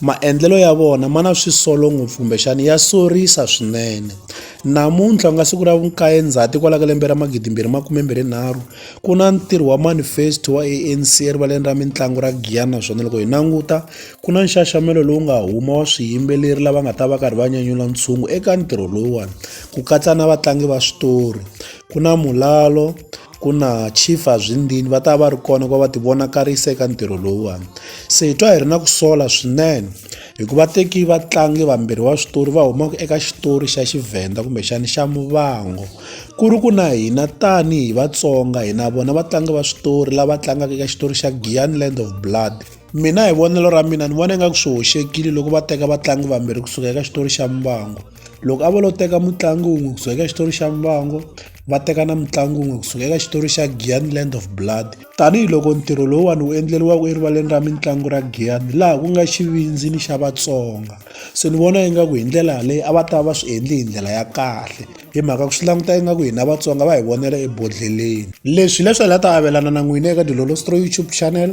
Maendlelo ya vona ma na swisolo ngopfu kumbexana ya sorisa swinene. Namuntlha ku nga siku ra vukaye Ndzhati kwala ka lembe ra magidi mbirhi makume mbirhi nharhu, ku na ntirho wa manifesto wa A_N_C erivaleni ra mitlangu ra Giyani naswona loko hi languta ku na nxaxamelo lowu nga huma wa swiyimbeleri lava nga ta va karhi va nyanyula ntshungu eka ntirho lowuwani, ku katsa na vatlangi va switori, ku na mulalo. ku na chief azwindini va ta va ri kona ku va va ti vonakarisa eka ntirho lowuwani se hi twa hi ri na ku sola swinene hikuva teki vatlangi vambirhi va switori va humaka eka xitori xa xivhenda kumbexana xa muvango ku ri ku na hina tanihi vatsonga hina vona vatlangi va switori lava tlangaka eka xitori xa giyani land of blood mina hi vonelo ra mina ni vona ingaku swi hoxekile loko va teka vatlangi vambirhi kusuka eka xitori xa mbango loko a vo lo teka mutlangi wun'we kusuka eka xitori xa mbango va teka na mutlangi wun'we kusuka eka xitori xa gian land of blood tanihiloko ntirho lowuwani wu endleriwaka erivaleni ra mitlangu ra gian laha ku nga xivindzi ni xa vatsonga se ni vona ingaku hi ndlela yaleyo a va ta va swi endli hi ndlela ya kahle hi mhaka ku swi languta ingaku hina vatsonga va hi vonela ebodlheleni leswi hileswi hi la ta avelana na n'wina eka dilolostro youtube channel